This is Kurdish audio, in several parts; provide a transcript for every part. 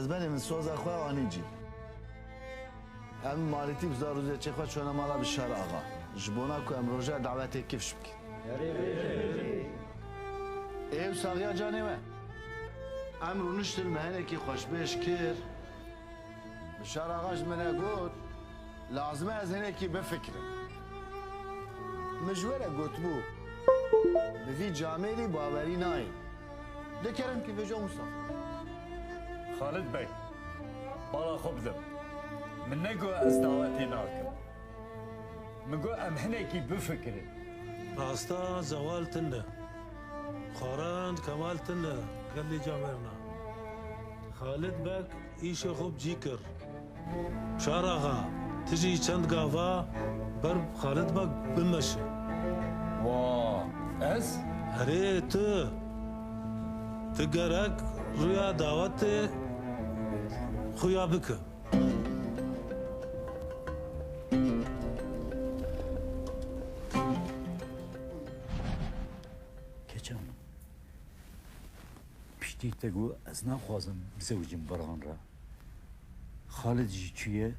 Ez benê min soza xwe anî cî. Em malîtî bi zar û zêçê xwe çûne mala Bîşar axa. Ji bona ku em roja dawetê kifş bikin. Herî bêje Herî. Êv saxiya canê we. Em rûniştin me hinekî xweşbêj kir. Bişar axa ji min e got, Lazim e ez hinekî bifikirim. Min ji we re gotibû, Bi vî camêrî bawerî nayê. Dikerim ki vêja wisa xwe. Xalid Beg, bala xwe bidim. Min negot ez dawetê nakim. Min got em hinekî bifikirin. Rasta Zewal tund e. Xwaran Kemal tund e gelê camêrna. Xalid Beg. Îşê xwe bi cî kir. Şar axa, ti jî çend gava ber bi Xalid beg bimeşe. Ma, ez? Erê tu! Tu gerek rûya dawetê xwe ya bike. Piştî te got ez naxwazim bizewicim Baran re. Xalid jî çûye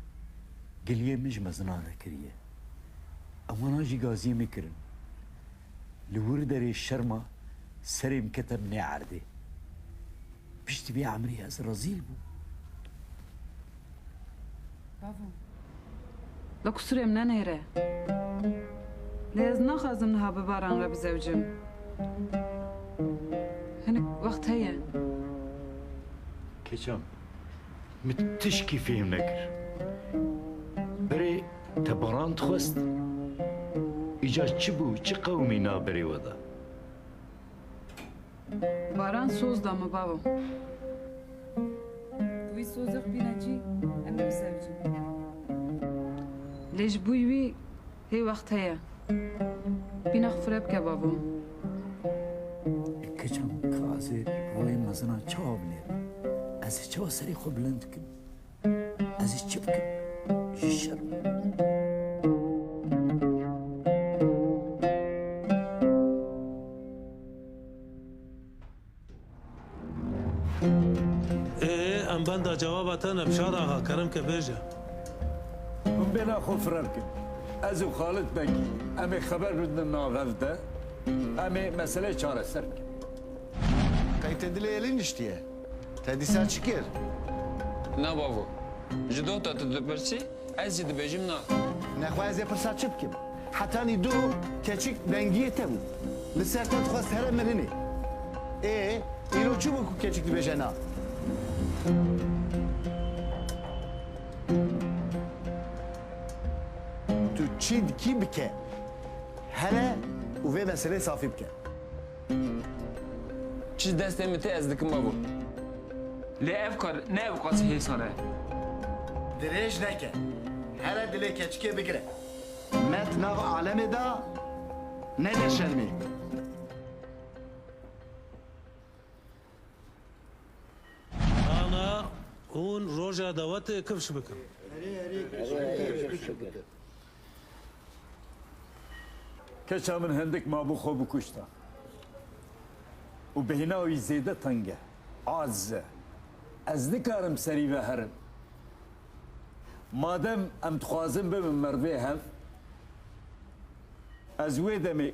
giliyê min ji mezina re kiriye. Ewwana jî gaziyê min kirin. Li wir derê şerma serê min kete binê erdê. Piştî vê emrê ez rezîl bûm. La ku surê min nenêre. Lê ez naxwazim niha bi Baran re bizewicim. Hinek wext heye. Keçan, min tişkî fêhm nekir. Berê te Baran dixwest? Îcar çi bû, çi qewimî na berê we de? Baran soz da min babo. Wî sozê xwe tîna cî em ê biseljin. Lê ji bo wî hê wext heye. Pîna xwe fire bike babo. Kicam kaze royê mezin a çawa binêrin. Ez çawa serê xwe bilind bikim. Ez ê çi bikim ji şerm. benda cevaba te ne Bişar axa kerem ke bêje. Hûn bêna xwe firar kin. Ez û Xalid Beg em ê xeber bidin navev de em ê meseleyê çareser bikin. Qey te dilê Elî niştiye? Te dîsa çi kir? Na bavo. Ji dota tu dipirsî, ez jî dibêjim na. Nexwe ez ê pirsa çi bikim? Hetanî du keçik dengiyê te bûn. Li ser te dixwest here mirinê. Ê, îro çi bû ku keçik dibêje na? Tu çi dikî bike. Here û vê meseleyê safî bike. Çi ji destê min tê ez dikim babo. Lê ev kar ne bi qasî hêsan e. Dirêj neke. Here dilê keçikê bigire. Me di nav alemê de nede şermê. Ana hûn roja dawetê kifş bikin. Keça min hindik mabû xwe bikuşta û bêhna wî zêde teng e, aciz e. Ez nikarim serî veherim. Madem em dixwazin bibin merdê hev, ez wê demê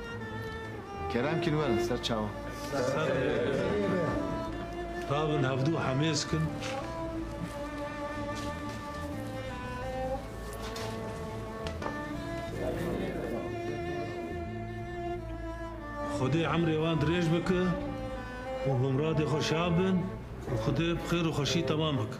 Kerem kîn werin ser çawan. Rabin hevdu hemêz kin. Xwedê emrê wan dirêj bike û bi miradê xwe şav bin û Xwedê bi xêr û xweşî temam bike.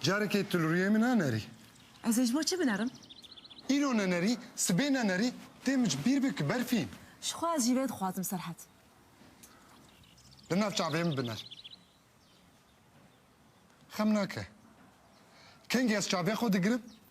Carekê tu li rûyê min nanerî. Ez ê ji bo çi binerim? Îro nanerî, sibê nanerî, tê min ji bîr be ki berfî. Ji xwe ez jî vê dixwazim Serhet. Li nav çavê min biner. Xem nake. Kengî ez çavê xwe digirim,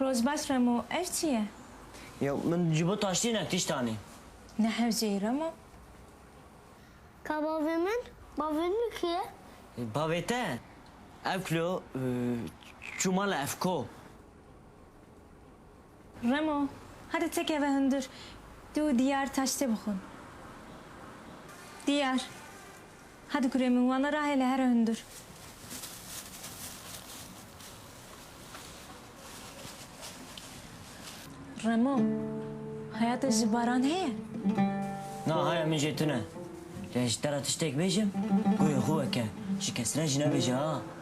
Roj baş Remo, ev çi ye? Ya min ji bo taştînek tişt anî. Ne hewce yî Remo. Ka bavê min, bavê min kî ye? Bavê te? Ew kilo çû mala Efko. Remo, hadi tekeve hundir, tu û Diyar taş tê bixwin. Diyar, hadi kurê min, wana rahêle here hundir. Remo, haya te ji Baran heye? Na, haya min jê tune. Lê ji te re tiştek bêjim, gurê xwe weke, ji kes re jî nebêje ha.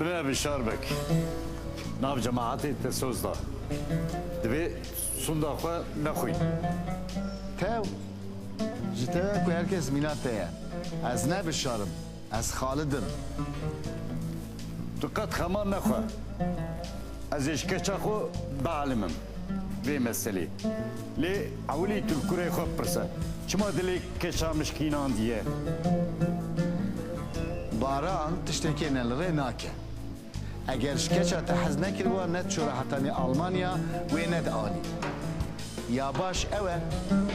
Bine bi şarbek. Nav cemaatê te soz da. Divê sunda xwe nexwîn. Tev ji te ye ku her kes mîna te ye. Ez ne bi şar im. Ez Xalid im. Tu qet xema nexwe. Ez ê ji keça xwe bialimim vê meselê. Lê ewilî tu li kurê xwe bipirse, çima dilê keça mişkînandiye? Baran tiştekê ne li rê nake. Eger ji keça te hez nekiriba ne diçûre heta nê Almanya wê nedianî. Ya baş ew e,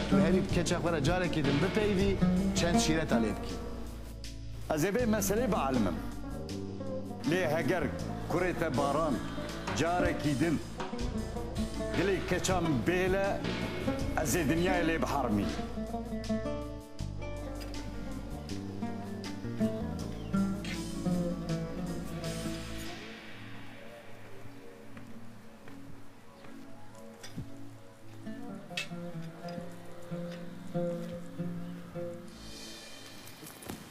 tu herî bi keça xwe re carekê din bipeyivî, çend şîreta lê bikî. Ez ê vê meselê bielimim. Lê heger kurê te Baran carekî din dilê keça min bêle ez ê dinyayê lê bihermînim.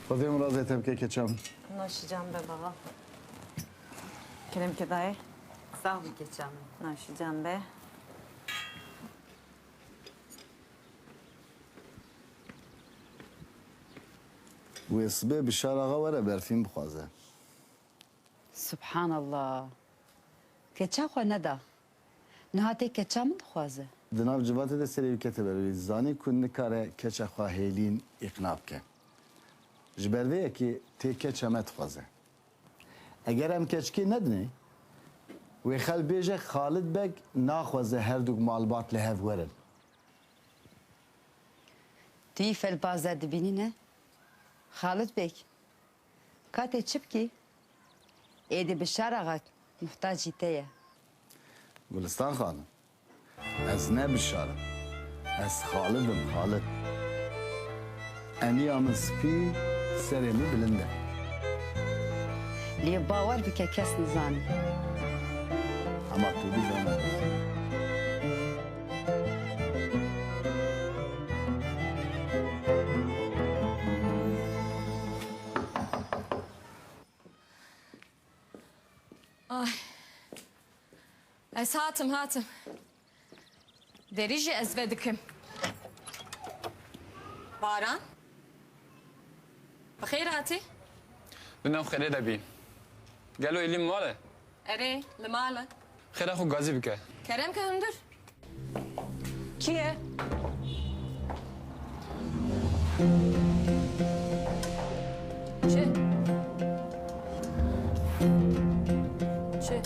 Xwedê min razê te bike keçan. Naşî can be baba. Keremke dayê. Sağ bî keçan min. Naşî can be. Wê sibê Bişar axa were berfîn bixwaze. Subhanallah. Keça xwe neda. Niha tê keça min dixwaze. Di nav civatê de serê wî kete ber û wî zanî ku nikare keça xwe hêlîn îqna bike. Ji ber vê yekê tê keça me dixwaze. Eger em keçikê nedinê, wê xelk bêje Xalid Beg naxwaze herdûk malbat li hev werin. Tu yî felbaze dibînî ne? Xalid Beg, Katê çi bikî? Êdî Bişar axa muhtacî te ye. Gulistan Xanım, ez ne Bişar im. Ez Xalid im, Xalid. Eniya min spî, serê min bilind e. Lê bawer bike kes nizane. Hema tu dizane ez dizanîm. Ez hatim hatim. Derî jî ez vedikim. Baran? Bi xêr hatî? Bi nav xêrê de bî. Gelo Elîn mal e? Erê, li mal e. Xêra xwe gazî bike. Kerem ke hundir. Kî ye? Çi? Çi?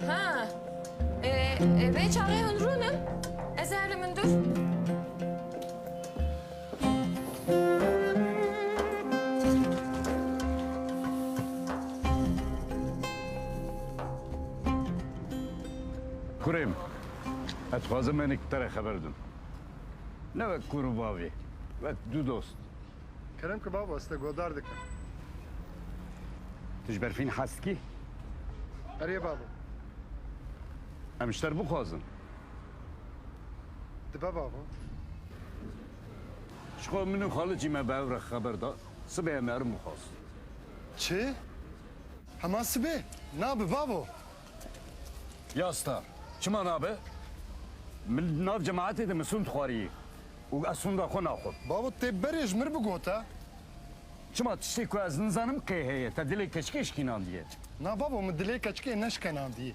Ha. E, e, vê çaxê hundir rûn in. Ez ê herim hundir. Kurê min, ez dixwazim hinek te re xeber bidim. Ne wek kur û bavê, wek du dost. Kerem ki baba, ez te guhdar dikim. Tu ji berfîn hez dikî? Erê baba. Em ji te re bixwazin. Dibe baba. Ji xwe min û xalicî me bi hev re xeber da. Sibê em herim bixwast. Çi? Hema sibê? Nabe babo. Ya star. Çima nabe? Min di nav cemaetê de misûn dixwariyê û ez sûnda xwe naxwim. Babo tê berê ji mir bigota. Çima tiştê ku ez nizanim qê heye? Te dilê keçikê şikînandiye. Na babo min dilê keçikê neşkenandiye.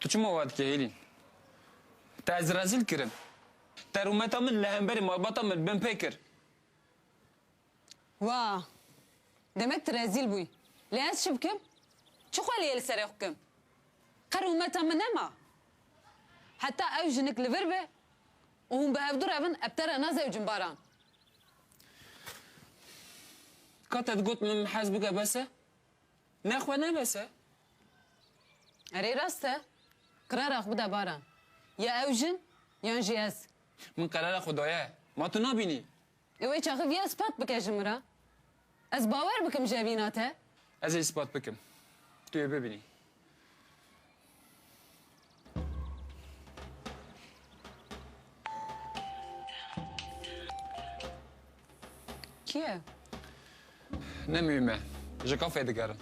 Tu çima wa dikî Hêlîn? Te ez rezîl kirin. Te rûmeta min li hemberî malbata min binpê kir. Wa! Demek tu rezîl bûyî. Lê ez çi bikim? Çi xweliyê li serê xwe bikim? Qe rûmeta min nema. Heta ew jinik li vir be û hûn bi hev du re bin ev te re nazewicin Baran. Ka te digot min hez bike bes e? Me xwe nebese. Erê rast e. Qirara xwe bide Baran. Ya ew jin yan jî ez. Min qirara xwe daye. Ma tu nabînî. Ê wê çaxi viya ispat bike ji min re. Ez bawer bikim ji evîna te. Ez ê ispat bikim. Tu yê bibînî. Kî ye? Ne mühim e. Ji kafeyê digerin.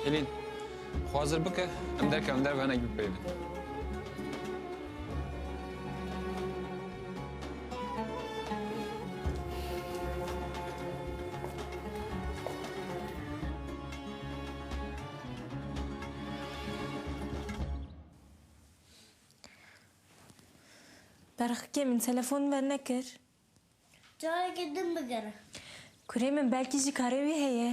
Helîn, xwe hazir bike, em derkevin derve hinek bipeyivin. Berxikê min telefon ver nekir. Carekê din bigere. Kurê min belkî jî karê wî heye.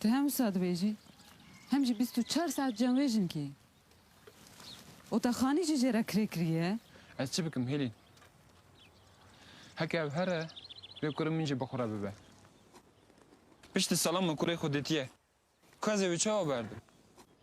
Tu hem wisa dibêjî hem jî bîst û çar saet cemwêjin kî. Otaxanî jî jê re kirê kiriye. Ez çi bikim Hîlîn? Heke ev here vê kurê min jî bi xwe re bibe. Piştî salan min kurê xwe dîtiye. Ku ez ê wî çawa berdim?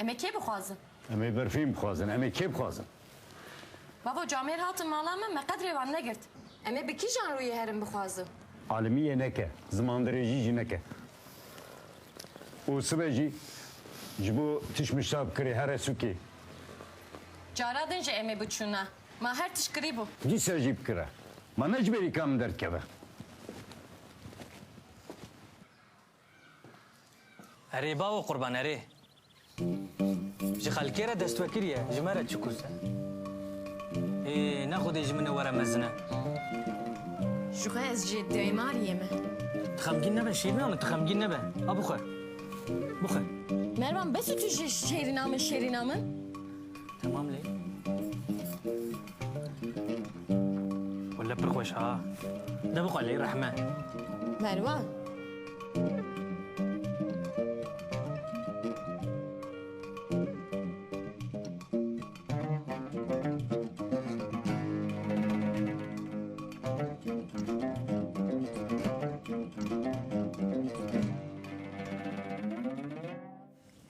Em ê kê bixwazin? Em ê berfîn bixwazin. Em ê kê bixwazin? Babo camêr hatin mala me, me qet rê wan negirt. Em ê bi kîjan rûyê herin bixwazin? Alimiyê neke, zimandirêjî jî neke. Û sibe jî ji bo tişt mişta bikirê here sûkê. Cara din jî em ê biçûna. Ma her tişt kirîbû. Dîsa jî bikire. Ma ne ji berî ka min derdikeve. Erê babo qurban erê. Ji xelkê re destwekir ye, ji me re çi kûz e. Ê ne xwedê ji min re were mezine. Ji xwe ez jê daymariyê me. Tu xemgîn nebe şêrîna min, tu xemgîn nebe. A bixwe. Bixwe. Mervan bes û tu jê şêrîna min, şêrîna min. Temam lê. Wele pir xweş ha. De bixwe lê rehme. Merwan.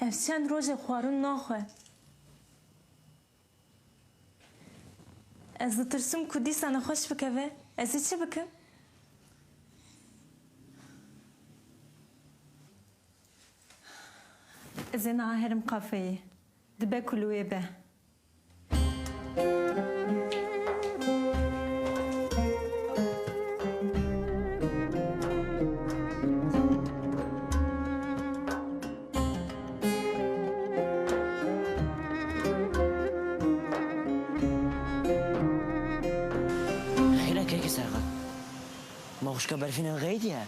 Ez çend rojê xwarin naxwe. Ez ditirsim ku dîsa nexweş bikeve. Ez ê çi bikim? Ez ê niha herim kafeyê. Dibe ku li wê be. Maxuşka berfînan xeydiye.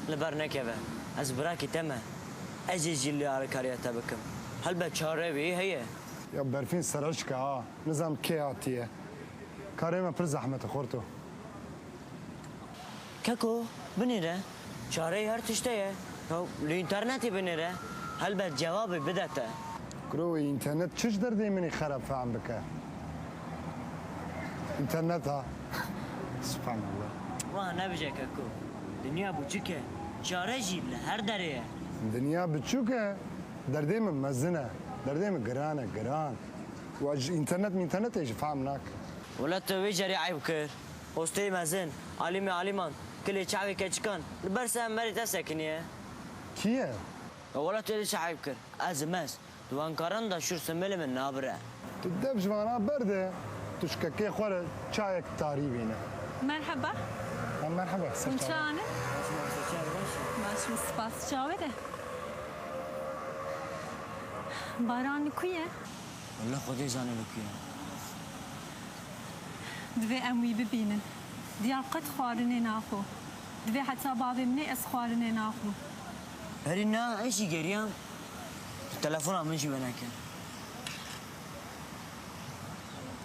Li ber nekeve. Ez birakî te me. Ez ê jî li alîkariya te bikim. Helbet çare wî heye. Ya berfîn sereşk e ha. Nizanim kê hatiye. Karê me pir zehmet e xorto. Keko binê re çareyê her tiştê ye. Ew li înternetê binê re helbet cevabê bide te. Kuro wê înternet çi ji derdê min ê xerab fehm bike? Înterneta? Subhanallah. Wiha nebije Keko. Dinya buçik e. Çare jî li her derê ye. Dinya biçûk e. Derdê min mezin e. Derdê min giran e, giran. Wan ji înternet mînternetê jî fehm nake. Wele tu wê carî eyb kir. Hosteyî mezin, Alîmê Alîman, kilê çavê keçikan, li ber ser merê te sekiniye. Kî ye? Wela tu dê çavê bikir. Ez im ez. Di wenkaran de şûr simêlê min nabire. Tu dev ji van a berde, tu ji kekê xwe re çayek tarî bîne. Merheba. Merheba. Ser çavan. Hûn çi anin? Ez ji Marsêçiyayê re baş im. Baş im. Spas. Çavê de. Baran li ku ye? Walla xwedê zane li ku ye. Divê em wî bibînin. Diyar qet xwarinê naxwe. Divê heta bavê min ê ez xwarinê naxwim. Herî na ez jî geriyam. Tu telefona min jî wenekir.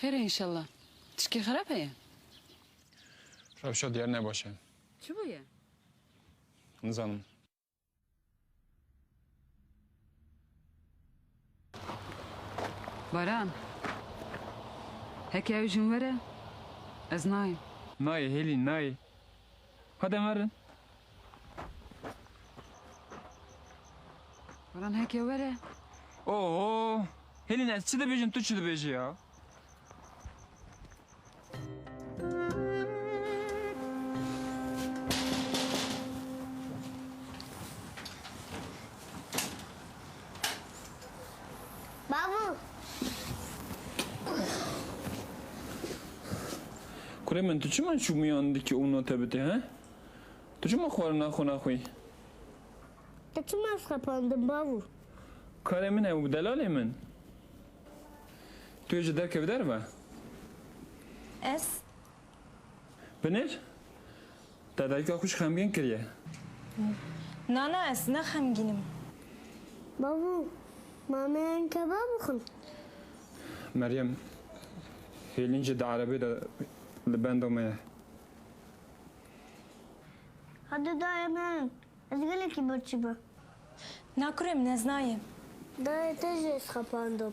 Xêr e înşellah. Tişkê xerab heye? Rewşa diyar ne baş e. Çi bûye? Nizanim. Baran. Heke ew jin were ez nayêm. Nayê Hêlîn nayê. Hadi merin. Baran heke were. Oho. Helin ez çi dibêjim tu çi dibêjî ya. Babu. Kurê min tu çima çûmiyan dikî û note bidî he? Tu çima xwarina xwe naxwî? Ez çima xepandim babu? Karê min e û delalê min. Tu ê ji derkevî derve. Ez Binêr, te dayika xwe ji xemgîn kiriye. Na na ez ne xemgîn im. Bavû, mameyan kebab bixwin. Meryem, Hêlîn jî di erebeyê de li benda me ye. Hadi dayê min, ez gelekî birçî me. Na kurê min ez nayêm. Dayê te jî ez xepandim.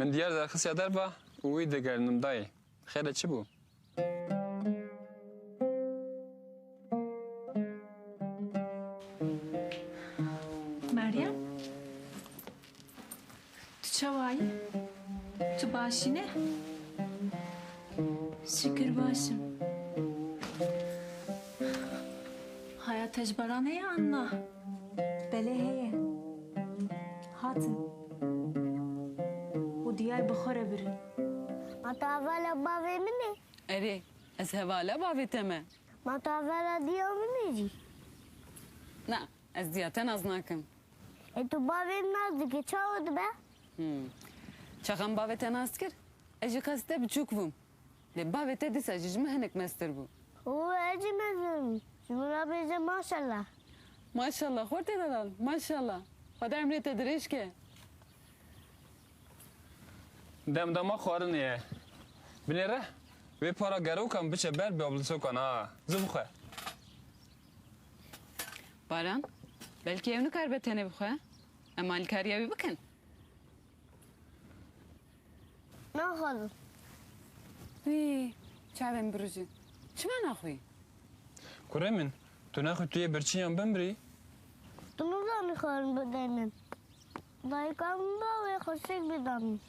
Min diyar derxisiya derva û wî digerinim dayê. Xêr e çi bû? Meryem? Tu çawa yî? Tu baş î ne? Şikir baş im. Haya te ji baran heye an na? Belê heye. Hatin. Û diyar bi xwe re birin. Ma tu hevala bavê min î? Erê, ez hevala bavê te me. Ma tu hevala diya min î jî? Na, ez diya te nas nakim. E tu bavê nas dikî çawa dibe? Çaxan bavê te nas kir? Ez ji qas te biçûk bûm. Lê bavê te dîsa jî ji min hinek meztir bû. Û ez jî mezin im. Ji min re bêje maşella. Maşella xortê dedan maşella. Xweda emrê te dirêj ke. Demdama xwarinê ye. Binê re wê para gerokan biçe ber bi ablusokan a. Zû bixwe. Baran, belkî ew nikaribe tenê bixwe em alîkariya wî bikin. Naxwazim. Wî, çavên min birijin. Çima naxwî? Kurê min, tu naxwî tu yê birçî yan bimrî? Tu nizanî xwe min bide min. Dayika min ba wê xweşik bida min.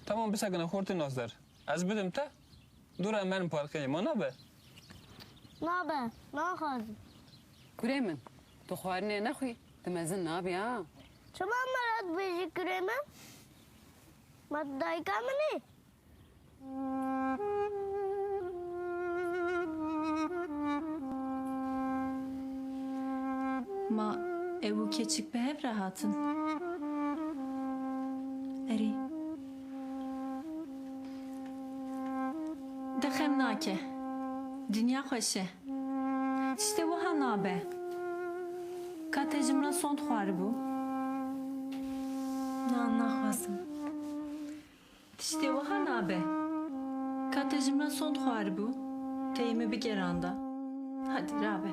Tamam bisekine xortê nas der. Ez bidim te? Dur em herin parkê ma nabe? Nabe, naxwazim. Kurê min, tu xwarinê nexwî tu mezin nabî ha. Çima min re dibêjî kurê min? Ma tu dayika min î? Ma ew û keçik bi hev re hatin. Erê. Di xem nake. Dinya xweş e. Tiştê wiha nabe. Ka te ji min re sond xwaribû? Na, naxwazim. Tiştê wiha nabe. Ka te ji min re sond xwaribû? Teyê min bigeranda. Hadi rabe.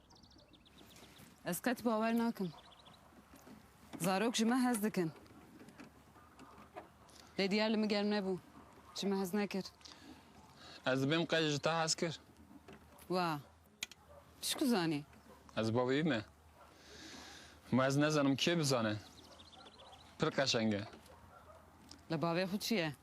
Ez qet bawer nakim. Zarok ji me hez dikin. Lê diyar li min germ nebû. Ji min hez nekir. Ez dibêm qe ji te hez kir. Wa. Pişku zanî. Ez bavê wî me. Ma ez nezanim kê bizane. Pir qeşeng e. Li bavê xwe çi ye?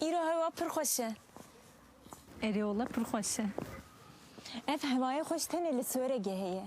Îro hewa pir xweş e. Erê wala pir xweş e. Ev hewayê xweş tenê li Sweregê heye.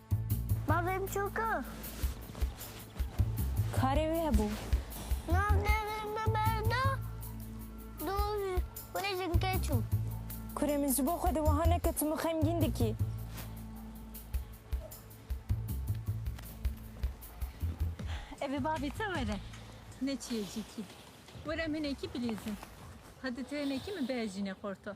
Bavê biçûk e. Karê wî hebû. Navnêrê min ber da. Du kurê jinkê çû. Kurê min ji bo xwe de wiha neke tu min xemgîn dikî. Ev bavê te were. Ne çi ye cîkî. Were min hinekî bilîzin. Hadi tu hinekî min bihejîne xorta.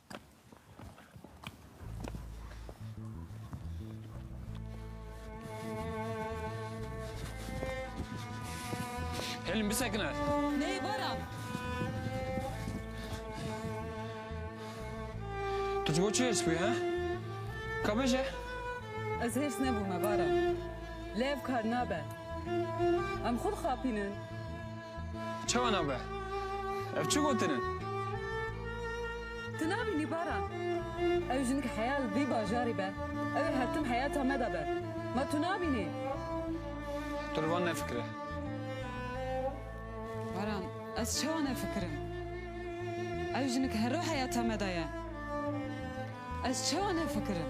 Helin bisekine. Nê bara. Tu ji bo çi hêrs bûyî he? Ka bêje. Ez hêrs nebûme bara. Lê ev kar nabe. Em xwe dixapînin. Çawa nabe? Ev çi gotin in? Tu nabînî Baran? Ew jinik heya li vî bajarî be. Ew ê her tim heyata me de be. Ma tu nabînî? Tu li van nefikire. Baran, ez çawa nefikirim? Ew jinik hero heyata me de ye. Ez çawa nefikirim?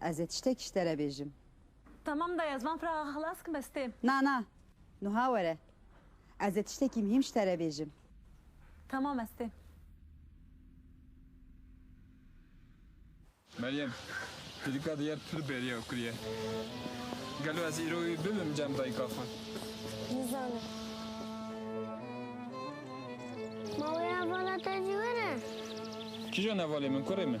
Ez ê tiştekî ji te re bêjim. Tamam dayê, ziman firaxa xwe xilas kim ez têm. Na, na. Nuha were. Ez ê tiştekî mihîm ji te re bêjim. Tamam ez têm. Meryem, Pirîka diyar pir bêriya kur ye. Gelo ez îro wî bibim cem dayika xwe? Nizanim. Mawê hevala te jî were? Kîjan hevalê min kurê min?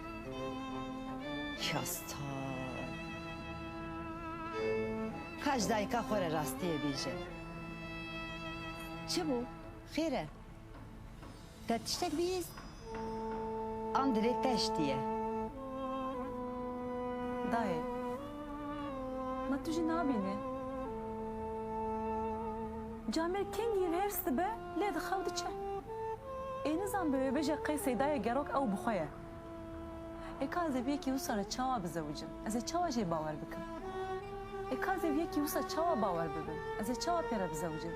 Kasta. Ka ji dayika xwe re rastiyê bêje. Çi bû? Xêr e? Te tiştek bihîst? An divê te hiştiye? Dayê. Ma tu jî nabînî. Camêr kengî hêrs dibe. Lê di xew diçe. Ê nizan bi wê bêje qey Seydayê Gerok ew bi xwe ye. Ê kazê bi yekî wisa re çawa bizewicim? Ez ê çawa jê bawer bikim? Ê kazê bi yekî wisa çawa bawer bibim? Ez ê çawa pê re bizewicim?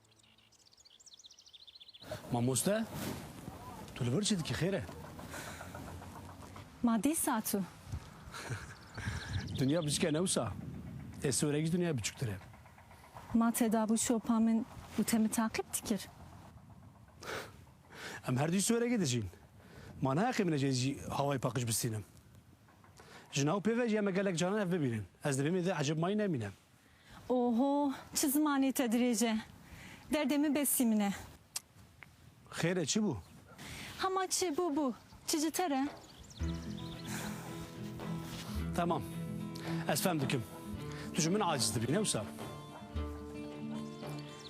Mamoste, tu li vir çi dikî xêr e? Ma dîsa tu. Dinya biçik e ne wisa. Ê sorekî dinyayê biçûktir e. Ma têda bû şopa min û te min taqîb dikir. Em her duyî sorekê dijîn. Ma ne heqê min e cê zî hawayê paqij bistînim. Ji nav pê ve jî em e gelek caran hev bibînin. Ez di vê mêrdê ecêb mayî nemînim. Oho çi zimanê te dirêj e. Derdê min besî min e. Xêr e çi bû? Hema çi bû bû. Çi ji te re? Temam. Ez fem dikim. Tu ji min aciz dibî ne wisa?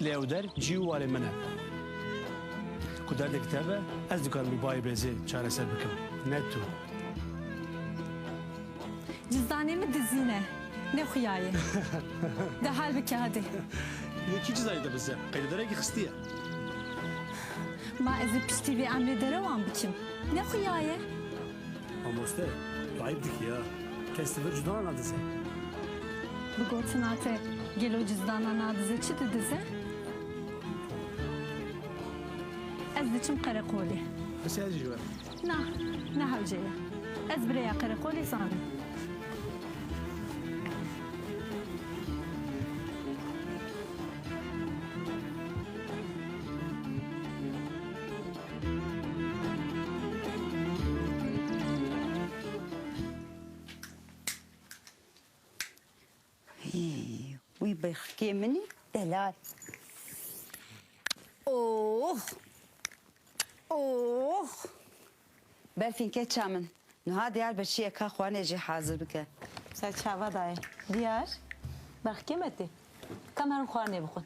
Lê ew der cî û warê min e. Ku derdek tev e, ez dikarim bi bayê bêzê çareser bikim, ne tu. Cizdanê min dizîn e, ne xuyayê. De hal bike hadi. Lê kî cizdanê te bi ze qeydedarekî xistiye? Ma ez ê piştî vê emrê derewan bikim, ne xuyayê. Mamoste, tu eyb dikî ya. Kes li vir cudana nadize. Bi gotina te gelo cudana nadize çi didize? Ez diçim qereqolê. Pisi ez jî ji we re. Na, ne hewce ye. Ez bi rêya qereqolê zanim. Wî bêxikê minî delal. Oh! Oh! Berfîn keça min. Nuha diyar bi çiyê ka xwanê jî hazir bike. Ser çava dayê. Diyar, bexikê me tê. Kam herin xwanê bixwin.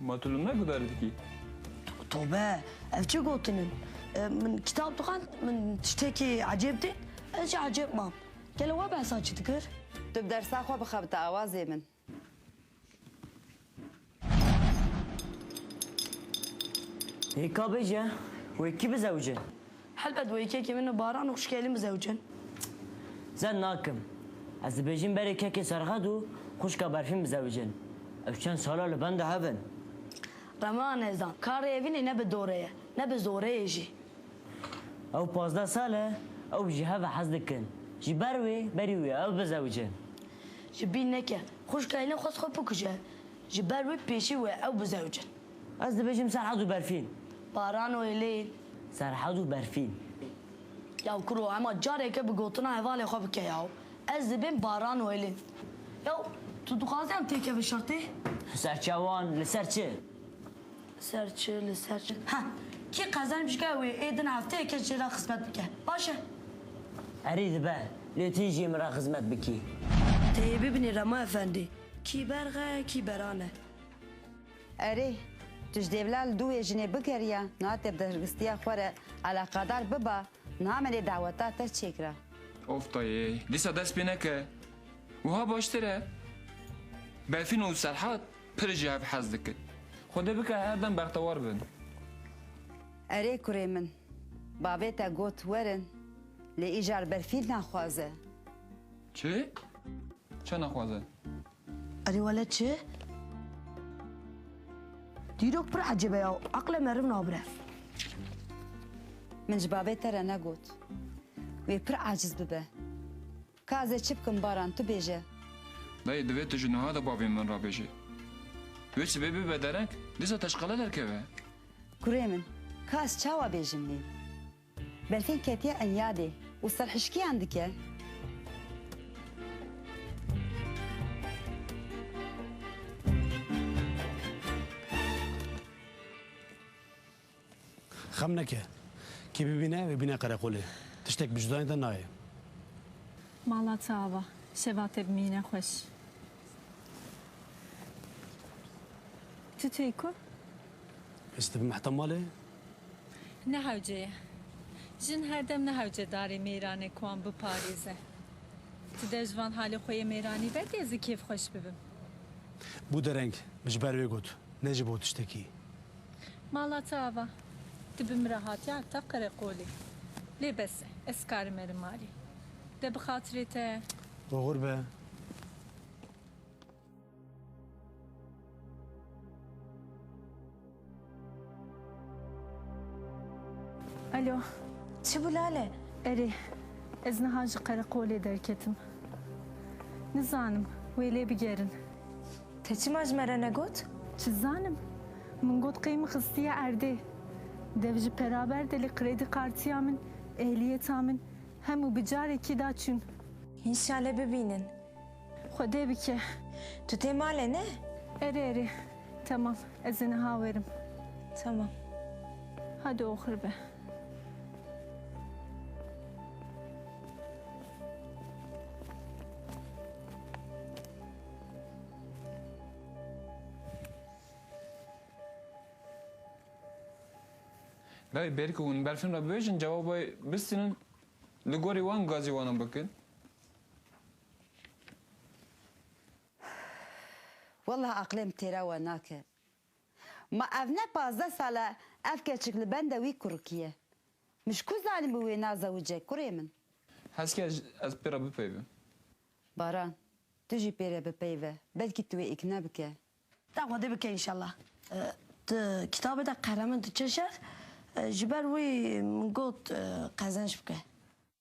Ma tu li me gudarî dikî? Tobe, ev çi gotin in? Min kitap dixwend, min tiştekî ecêb dît, ez jî ecêb mam. Gelo we behsa çi dikir? Tu bi dersa xwe bixebite awazê min. Hêka bêje, wê kî bizewije? Helbet wê kekê min û Baran û xuşkê Elîn bizewicin. Zed nakim. Ez dibêjim berê kekê Serxed û xuşka Berfîn bizewicin. Ew çend sal e li benda hev in. Rema nezan. Karê evînê ne bi dorê ye, ne bi zoreyê jî. Ew pazdeh sal e, ew ji hev e hez dikin. Ji ber wê berî wê ev bizewicin. Ji bîr neke. Xuşka Elîn xwest xwe bikuje. Ji ber wê pêşî wê ew bizewicin. Ez dibêjim Serhad û Berfîn. Baran û Êlîn. Serhad û Berfîn. Ya kuro hema careke bi gotina hevalê xwe bike yaw. Ez dibêm Baran û Êlîn. Ya tu dixwazî em têkevin şertê? Serçewan li ser çi? Ser çi li ser çi. Ha, kî qezanî piştgehê wê ê din hefteyeke jê re xizmet bike. Baş e. Erî dibe. Lê tu jî min re xizmet bikî. Teyê bibînî Remo Efendî. Kî berx e, kî beran e. Erê, tu ji dêvla li dû wê jinê bigeriya, niha tê bi dehirgistiya xwe re eleqadar biba, niha me dê daweta te çêkira. Of dayê, dîsa dest pê neke, wiha baştir e. Befîn û Serhat pir ji hev hez dikin. Xwedê bike her dem bextewar bin. Erê kurê min, bavê te got werin, lê îcar Berfîn naxwaze. Çi? Çend naxwaze? Erê wele çi? Dîrok pir ecêbe ya, eqle meriv nabire. Min ji babê te re negot wê pir aciz bibe. Ka ez ê çi bikim Baran, tu bêje. Dayê divê tu ji niha de bavê min re bêjî. Wê sibê bibe derek, dîsa te ji qele derkeve. Kurê min, ka ez çawa bêjim lê? Berfîn ketiye enyadê û serhişkiyan dike. Xem neke. Kî bibîne wê bîne qereqolê. Tiştek bi cudanê de nayê. Mala çi ava. Şeva te bimîne xweş. Tu çêy ku? Ez dibim heta malê. Nehewce ye. Jin her dem nehewce darê mêran e ku wan biparêze. Tu der ji van halê xwe yê mêranî veke ez ê kêfxweş bibim. Bû dereng, ji ber wê got, ne ji bo tiştekî. Mala te ava. Tu bi min re hatiye heta qereqolê. Lê bes e. Ez dikarim erim malê. De bi xatirê te. Oxir be. Alo, çi bû Lale? Erê, ez niha ji qereqolê derketim. Nizanim, wê lê bigerin. Te çima ji me re negot? Çi zanim? Min got qey min xistiye erdê. Dev ji peraber de li kredi kartiya min, ehliyeta min hemû bi carekî da çûn. Înşale bibînin. Xwedê bike. Tu tê malê ne? Erê erê. Temam. Ez ê niha werim. Temam. Hadi oxir be. Lay ber ku hûn berfên re bibêjin cewabê bistînin li gorî wan gazî wan bikin. Wallah aqilê min têra we nake. Ma ev ne pazdeh sal e ev keçik li benda wî kurikîye. Min ji ku zanî bi wê nazewice kurê min. Hez kir ez pê re bipeyivim. Baran, tu jî pê re bipeyive. Belkî tu wê îkna bike. Deng xwedê bike înşallah. Di kitabê de qehremen diçe şer. Ji ber wî min got qezenç bike.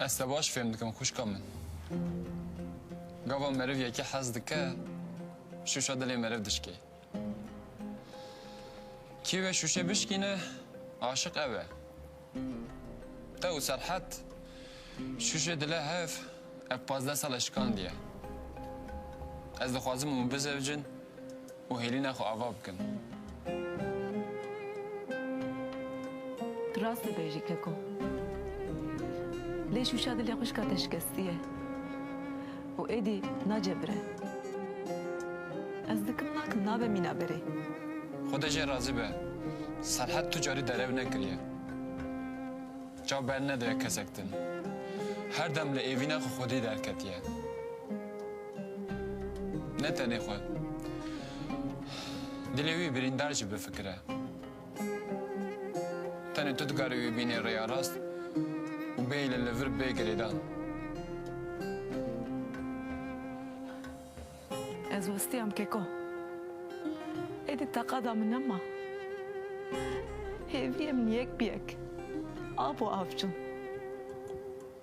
Ez te baş fêm dikim xwişka min. Gava meriv yekê hez dike, şûşa dilê meriv dişkê. Kî wê şûşê bişkîne, aşiq ew e. Qew Serhet şûşê dile hev ev pazdeh sal e şikandiye. Ez dixwazim hûn bizewicin û hêlîna xwe ava bikin. Tu rast dibêjî Keko. Lê şûşa dilê xwişka te şikestiye. û êdî nacebire. Ez dikim nakim nabe mîna berê. Xuda jê razî be, Serhet tu carî derew nekiriye. Çav bernedaye kesek din. Her dem li êvîna xwe xwedî derketiye. Ne tenê xwe. Dilê wî birîndar jî bifikire. Tenê tu dikarî wî bînî rêya rast û bêyî li li vir bê girêdan. Ez westiyam keko. Êdî teqada min nema. Hêviyê min yek bi yek av û av çûn.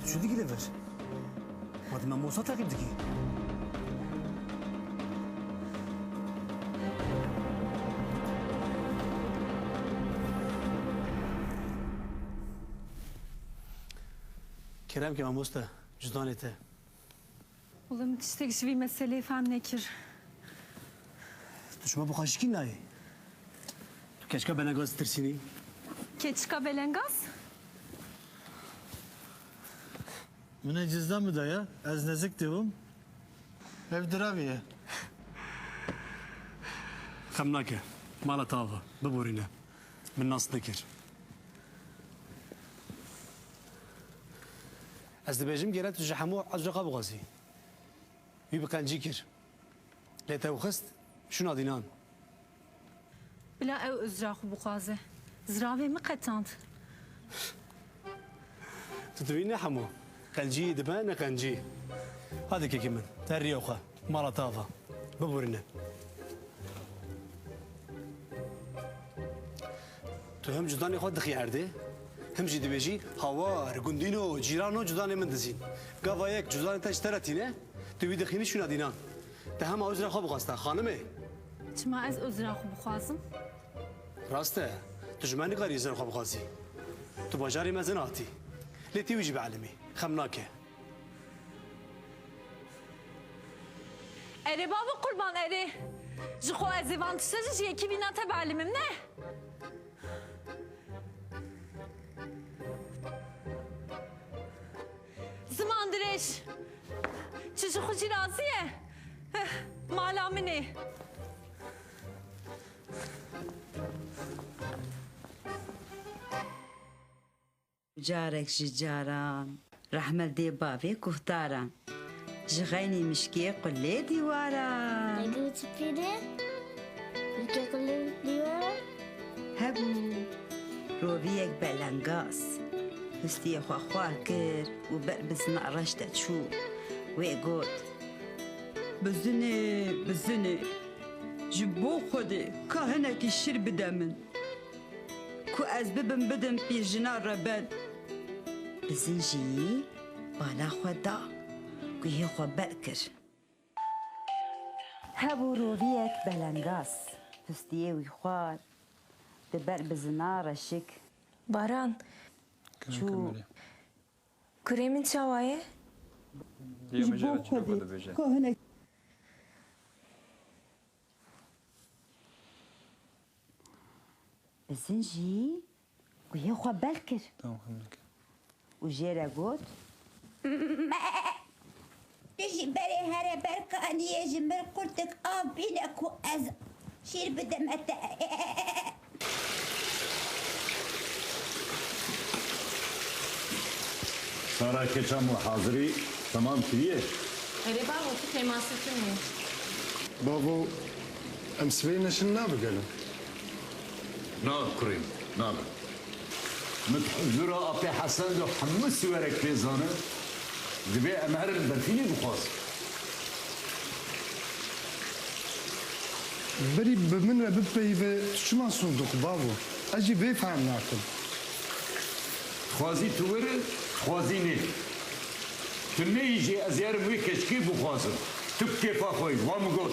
Tu çi dikî li vir? Ma tu mamosta teqîb dikî? Kerem ki mamosta, cûdanê te. Wele min tiştek ji vî meseleyê fehm nekir. Tu ji me bi xweşikî nayê. Tu keçika Belengaz ditirsînî? Keçika Belengaz? Min e cizdan bidaye, ez nezik dibûm. Ev diravê ye. Xem nake. Mala te ava. Biborîne. Min nas nekir. Ez dibêjim gere tu ji hemû ecr qebixwazî. Wî bi qencî kir. Lê tewxist şûna dînan. Bila ew ecra xwe bixwaze. Ziravê min qetand. Tu dibî ne hemû. Qencî dibe ne qencî. Hadi kekê min, te riya xwe. Mala tava. Bibûrine. Tu him cudanê xwe dixî erdê, him jî dibêjî hawar, gundîno, cîrano cudanê min dizîn. Gava yek cudanê te ji te re tîne, tu wî dixînî şûna dînan. Te hema uzra xwe bixwesta, xanimê. Çima ez uzra xwe bixwazim? Rast e, tu ji me nikarî uzra xwe bixwazî. Tu bajarê me zin hatî. Lê tî wî jî bielimî, xem nake. Erê babo qurban erê. Ji xwe ez ê van tişte ji ji yekî vîna te bielîmim ne. Ziman dirêj. Çi ji xwe jî razî ye? Eh, Mala min ê. Carek ji caran. Rehmet dê bavê guhdaran. Ji xeynî mişkê qulê dîwaran. Dagî û çipî dê mişkê qulê dîwaran. Hebû roviyek belengaz. Hustiyê xwe xwar kir û ber bi zina reş de çû. Wê got, Bizinê, bizinê, ji bo Xwedê ka hinekî şîr bide min. Ku ez bibim bidim pî jina rebet. Bi zincîyî bala xwe da. Guhê xwe ber kir. Hebû roviyek belengaz. Pistiyê wî xwar. Di ber bizina reşik. Baran çû. Kurê min çawa ye? Ji bo xwe dê. Bizin jî guyê xwe bel kir û jê re got. Tu ji berê here ber kaniyê ji min qurtik av bîne ku ez şîr bidime te. Sara keça ma hazirî temam kiriye? Erê bavo tu pêmasê tune ye. Bavo em sibê neşin nabe gelo? Na kurê min nabe. Min di huzura Apê Hesen de hemû siwerek pê zanîn, divê em herin berfînê bixwazin. Birî bi min re bipeyive, tu çima soz dixwî bavo? Ez jî vê fehm nakim. Dixwazî tu wir in, dixwazî nê. Tu neyî jî ez yerim wê keçikê bixwazim. Tu bi kêfa xwe yî, wa min got.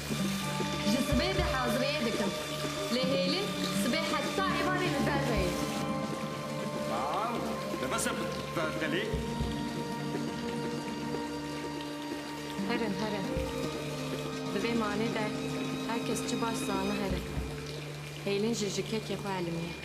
Ji sibê de haziriyê dikim. Lê hêlin sibê heta îvanê li ber ve yê. Bav, dibise bertelî. Herin, herin. Di vê malê de her kes çi baş zana herin. Hêlin jî ji kekê xwe elimiye.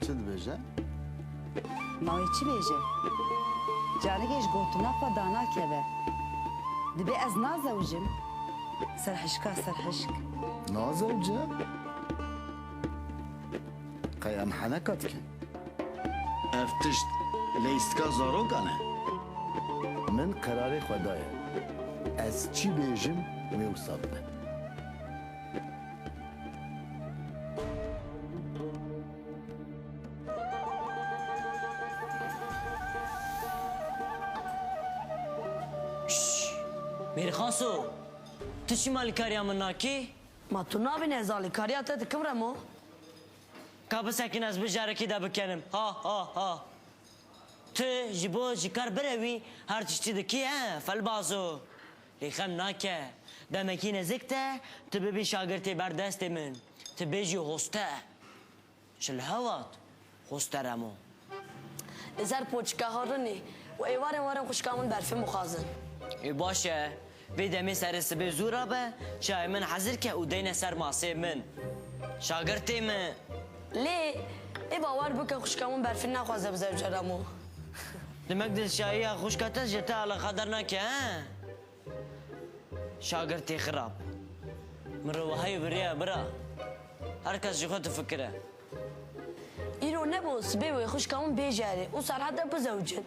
Çi dibêje? Ma wê çi bêje? Careke ji gotina xwe danakeve. Dibe ez nazewicim? Serhişka serhişk. Nazewce? Qey em heneka dikin. Ev tişt leyistika zarokan e. Min qerarê xwe daye. Ez çi bêjim wê wisa bibe. Mêrxaso, tu çima alîkariya min nakî? Ma tu nabînî ez alîkariya te dikim Remo? Ka bisekîn ez bi carekî de bikenim ha ha ha. Tu ji bo ji kar birevî her tiştî dikî he felbazo. Lê xem nake, demekî nezik te tu bibî şagirtê ber destê min, tu bê jî hoster. Ji li hevat hoster em o. Li ser poçika Harinê û êvarên warên xwişka min berfê mixwazin. Ê baş e, vê demê serê sibê zû re be, çayê min hezir ke û deyne ser masê min. Şagirtê min. Lê, ê bawer bike xwişka min berfê naxwaze bi zevcer em o. Demek dilşayiya xwişka te ji te alixa dernake he? Şagirtî xirab. Min re wahayî biriye bira. Her kes ji xwe difikire. Îro nebo sibê wê xwişka min bêje erê û Serhat de bizewicin.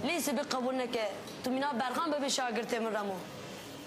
Lê sibê qebûl neke tu mîna berxan bibê şagirtê min Remo.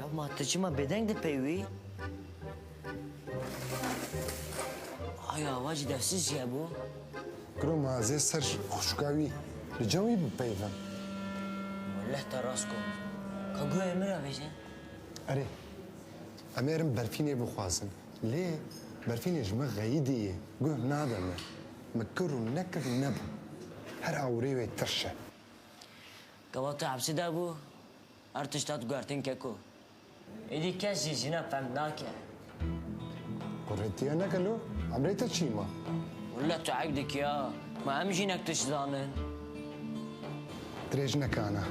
Ya ma tu çima bêdeng dipey wî? Ay avacî devsiz jî hebû. Kiro ma ez ê ser xuşka wî li cem wî bipeyivim. Ma leh te rast got. Ka guhê min re vejî. Erê, em ê erin berfînê bixwazin. Lê berfînê ji min xeyîdî yê, guh nade min. Min kir û nekir nebû. Her awirê wê tirş e. Gava tu hepsê de bû? Her tişta diguhertin keko. Êdî kes jî jina fehm nake. Xwe retiye neke lo, em rê te çî ma. Walla tu eyb dikî ya, ma em jinek tişt zanin. Dirêj neke ana.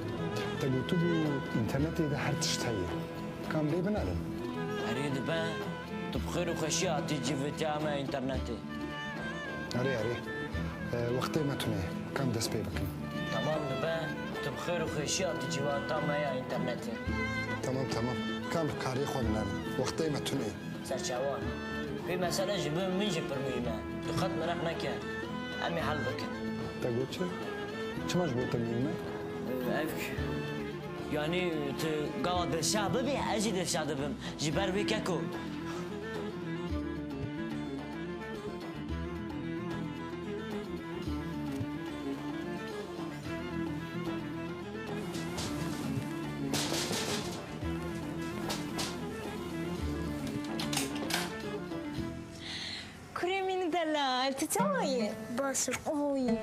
Te gotibû înternetê de her tişt heye. Ka em lê binerin. Erê dibe, tu bi xêr û xweşî hatî civitiya me înternetê. Erê erê. Wextê me tune ye. Ka em dest pê bikin. Temam dibe. Tu bi xêr û xweşî hatî civata me ya înternetê. Temam temam. Kam bi karîyê xwe binerim. Wextê me tune ye. Serçevan, Vê mesele ji bo min jî pir muhîm e. Tu qet mereq neke. Em ê hel bikin. Te got çi? Çima ji bo te muhîm e? Ev kî? Yanî tu gava dilşad bibî ez jî dilşad dibim. Ji ber wê keko. Kurê min delal, tu çawa yî? Baş im, oyî.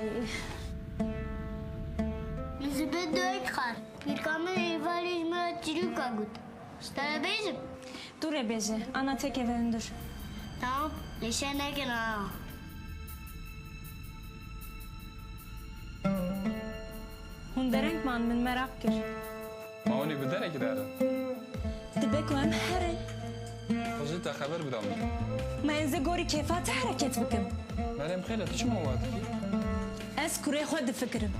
Min ji bin dayîk xwend. Pîrka min êvarê ji min re çîrok e got. Ez terebêjim. Tu rebêje, ana têkeve hundir. Tamam, lê şer nekin ana. Hûn dereng man, min meraq kir. Ma hûn ê bi derekî de herin? Dibe ku em herin. Xwe zû te xeber bida min. Ma ez ê gorî kêfa te hereket bikim. Meryem xêr e, tu çima wiha dikî? Ez kurê xwe difikirim.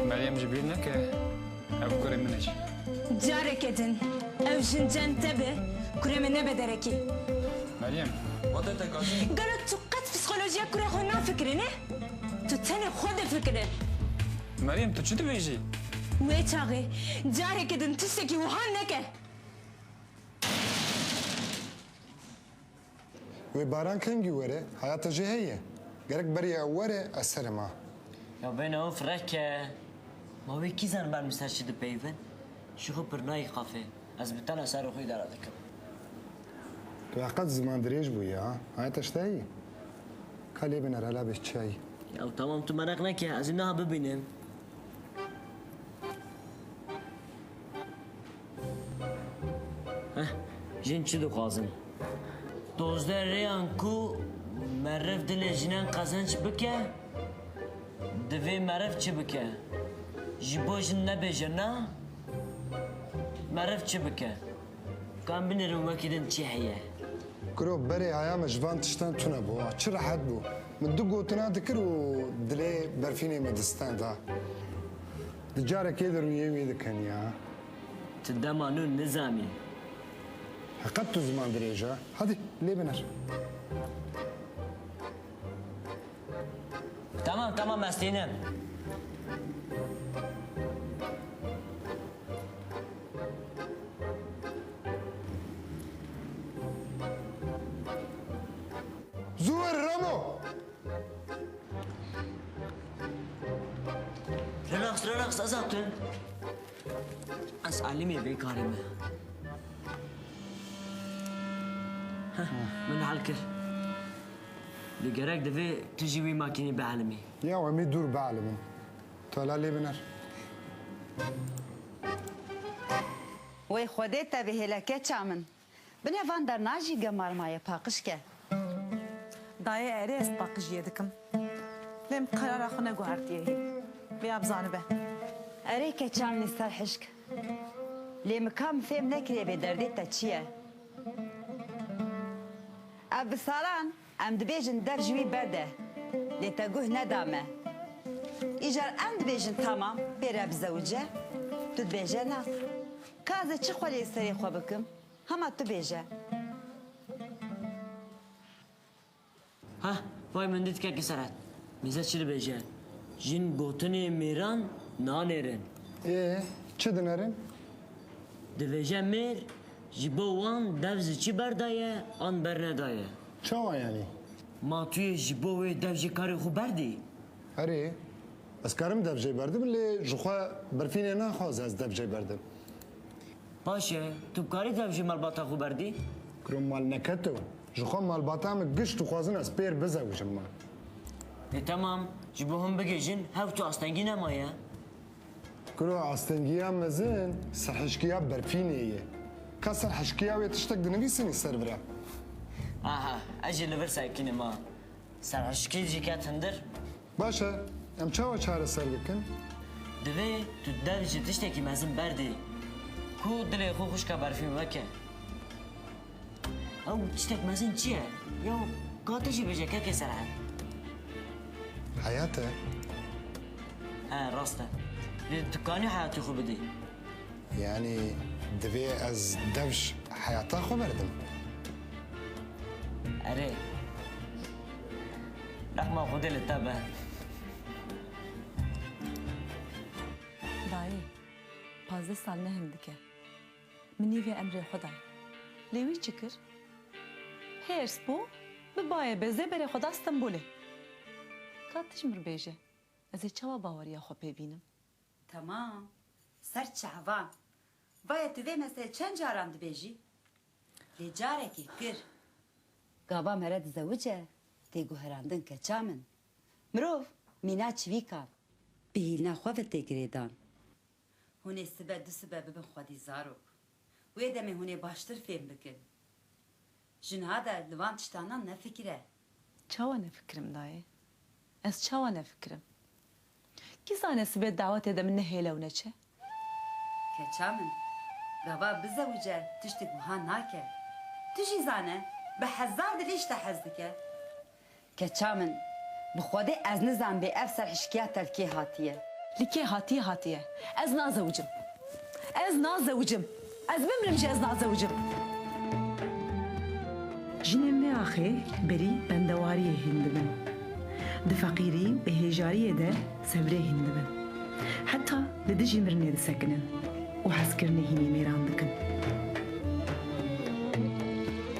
Meryem ji bîr neke. Ev kurê min e jî. Careke din ew jin cem te bi, kurê min nebe derekî. Meryem, wate te gazî? Gelo tu qet psîkolojiya kurê xwe nafikirî ne? Tu tenê xwe difikirî. Meryem, tu çi dibêjî? Wê çaxê, careke din tiştekî wiha neke. Wê baran kengî were, heya te jî heye. Gerek beriya ew were, ez serê ma. Ya bêne û fireke. Ma wê kî zan berm li ser çi dipeyivin? Ji xwe pir nayî xafê. Ez bi tena serê xwe îdare dikim. Tu heqet ziman dirêj bûyî ha. Heya te ji te heye. Ka lê biner hela bê çiyayî. Ya temam tu mereq neke, ez ê niha bibînim. Heh, jin çi dixwazin? Dozdeh rêyan ku meriv dilê jinan qezenç bike, divê meriv çi bike? Ji bo jin nebêje na, meriv çi bike? Ka em binêrin wekî din çi heye? Kiro, berê haya me ji van tiştan tune bû. Çi rehet bû. Min du gotina dikir û dilê berfînê me di stenda. Di carekê de rûyê wê dikin ya. Tu dema nû nizanî. Heqet tu ziman dirêj a. Hadi lê binir. Tamam tamam ez tînim. Zû wir Ramo! Relax, relax, ez hatun. Ez alimê vê karê me. Heh, Min hel kir. Lê gerek divê tu jî wî makînê bielimî. Ya em ê dûr bielimin. Tu hela lê biner. Wey xwedê tevî hêleke ça min. Binê van berna jî gemar maye paqij ke. Dayê erê ez paqijîye dikim. Lêm qerara xwe neguhertiye hîn. Vêya bizanibe. Erê keçan li ser hişk. Lê min ka min fêm nekiriye vê derdê te çi ye. Ev bi saran Em dibêjin dev ji wî berde, lê te guh neda me. Îcar em dibêjin tamam pê re bizewije, tu dibêje na. Ka ez ê çi xwelê li serê xwe bikim, hema tu bêje. Heh, vay min dît kekê serhet. Mîze çi dibêje, jin gotinê mêran nanêrin. Ê, çi dinerin? Dibêje mêr. Ji bo wan dev ji çi berdaye an bernedaye? Çawa yanî? Ma tu yê ji bo wê dev jê karê xwe berdî? Erê, ez karim dev jê berdim lê ji xwe berfînê naxwaze ez dev jê berdim. Baş e, tu bi karî dev ji malbata xwe berdî? Kiro mal neke tu. Ji xwe malbata min giş dixwazin ez pêr bizewijim ma. Dê temam, ji bo him bigihîjin hev tu astengî nemaye. Kiro astengiya mezin serhişkiya berfînê ye. Ka serhişkiya wê tiştek dinivîsîn ê ser vir e. Aha, ez jî li vir sekînim a. Serhişkî jî ket hundir. Baş e, em çawa çareser dikin? Divê tu dev ji tiştekî mezin berdê ku dilê xwe xwişka berfîn weke. Ew tiştek mezin çi ye? Ya ka te jî bêje kekê ser her. Heyat e. He rast e. Lê tu kanî heyatê xwe bidî. Yanî divê ez devj heyata xwe berdim. Erê. Rehma Xwedê li te be. Dayê, pazdeh sal ne hindik e. Min nîvê Emrê xwe dayî. Lê wî çi kir? Hêrs bû, bi bayê bezê berê xwe da Stenbolê. Ka tij mir bêje, ez ê çawa baweriya xwe pê bînim? Temam, ser çavan. Vaye tu vê meselê çend caran dibêjî? Lê carekê kir. Gava mere dizewice, tê guherandin keça min. Mirov, mîna çivîkan. Bi hîlna xwe ve tê girêdan. Hûn ê sibe du sibe bibin xwedî zarok. Wê demê hûn ê baştir fêm bikin. Jinha de li van tiştanan nefikire. Çawa nefikirim dayê? Ez çawa nefikirim? Kî zane sibe dawetê de min nehêle û neçe? Keça min, gava bizewice tiştêk wiha nake. Tu jî zane bi hezar dilî ji te hez dike. Keça min, bi Xwedê ez nizanbê ev serhişkiya te li kê hatiye. Li kê hatiye hatiye. Ez nazewicim. Ez nazewicim. Ez bimrim jî ez nazewicim. Jinên vê axê berî bendewariyê hîn dibin. Di feqîrî û hêjariyê de sebrê hîn dibin. Heta li dijî mirinê disekinin û hezkirinê hînê mêran dikin.